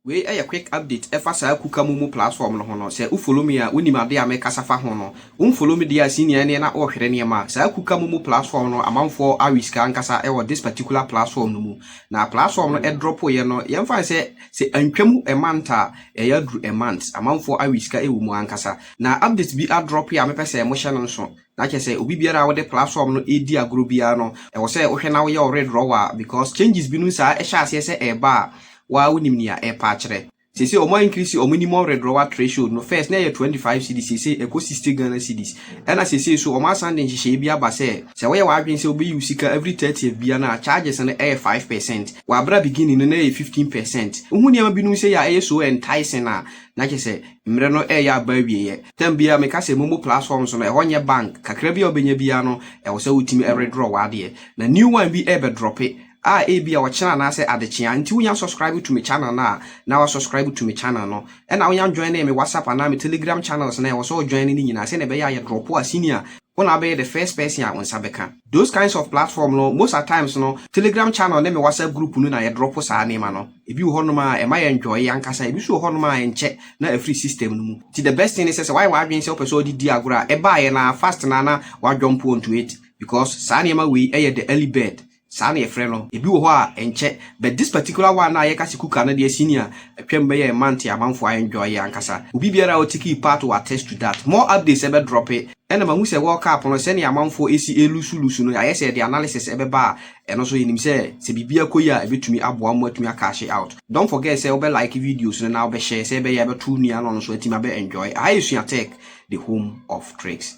Wei yɛ quick update ɛfa saa Kukamu mu platform no ho no, sɛ wo follow me a wonim adeɛ a mekasa fa ho no. Wo nfollow me deɛ a senior ɛneɛ na ɔrehwere nneɛma. Saa Kukamu mu platform no amanfoɔ awe sika ankasa wɔ this particular platform no mu. Na platform no ɛdrɔpoeɛ no yɛmfa no sɛ sɛ antwa mu a month a ɛyɛ aduru a month. Amanfoɔ awe sika wɔ mu ankasa. Na update bi adrɔpoe a mepɛ sɛ mohyɛ no nso. Na kyerɛ sɛ obi biara a wode platform no redi agorɔ biara no, ɛwɔ sɛ wohwɛ na woyɛ wo redrawal because changes binom saa ɛhyɛ aseɛ sɛ ɛreba a, wo ara wonim nea ɛrepa akyerɛ. Seesei wɔn a increase wɔn minimum redrawal threshold no, first na ɛyɛ 25 cedis, seesei ɛkɔ 60 Ghana cedis. Ɛna seesei nso wɔn asan de nhyehyɛeɛ bi aba sɛ, sɛ woyɛ w'adwene sɛ wobɛyi wo sika every 30th biara no a, charges no ɛyɛ 5 percent. Wɔ abere a beginning no na ɛyɛ 15 percent. Wohu nneɛma binom sei a ɛyɛ so enticing a, na kyerɛ sɛ, Mmere no reyɛ aba awieɛ. Tam biara meka sɛ mommɔ platforms no, ɛhɔ nyɛ bank, kakra bi a wobɛnya biara no ɛwɔ sɛ wotumi redraw w'adeɛ. Na new one bi rebɛ drope a ebia ɔkyena anaasɛ adekyea, nti wonya subscribe to me channel no a, na wa subscribe to me channel no. Ɛna wonya joine me WhatsApp anaa me Telegram channels no a ɛwɔ sɛ wo joine no nyinaa sɛdeɛ ɛbɛyɛ a yɛ dropo a senior, Wo na wobɛyɛ the first person a wo nsa bɛka. Those kinds of platform no most at times no telegram channel ne me whatsapp group no na yɛ drop saa nneɛma no. Ebi wɔ hɔnom a ɛma yɛ enjoy ankasa, ebi nso wɔ hɔnom a ɛnkyɛ na afiri system no mu. Nti the best thing ne sɛ sɛ woayɛ w'adwene sɛ wopɛ sɛ wode di agorɔ a, ɛbaeɛ no ara fast no ara na woajump onto it because saa nneɛma wei yɛ the early bird Saa na yɛfrɛ no. Ebi wɔ hɔ a, ɛnkyɛ. But this particular one a yɛka se Kuka no deɛ senior atwam bɛyɛ a month a amanfoɔ a enjoy yɛ ankasa. Obi biara a ɔtakii part will attest to that. More updates ɛbɛ drope. Ɛna mahu sɛ World Cup no sɛnea amanfoɔ esi elusu lusu no ayɛ sɛ ɛde analysis ɛbɛba a ɛno nso yɛnim sɛ sɛ biribi akɔ yie a ɛbɛtumi aboa mo atumi a cashe out. Don't forget sɛ wobɛ like videos no na wobɛ share sɛ ɛbɛyɛ a ɛbɛto wo nua na ɔno nso atumi abɛ enjoy. Aha yɛ Sua Tech the home of tricks.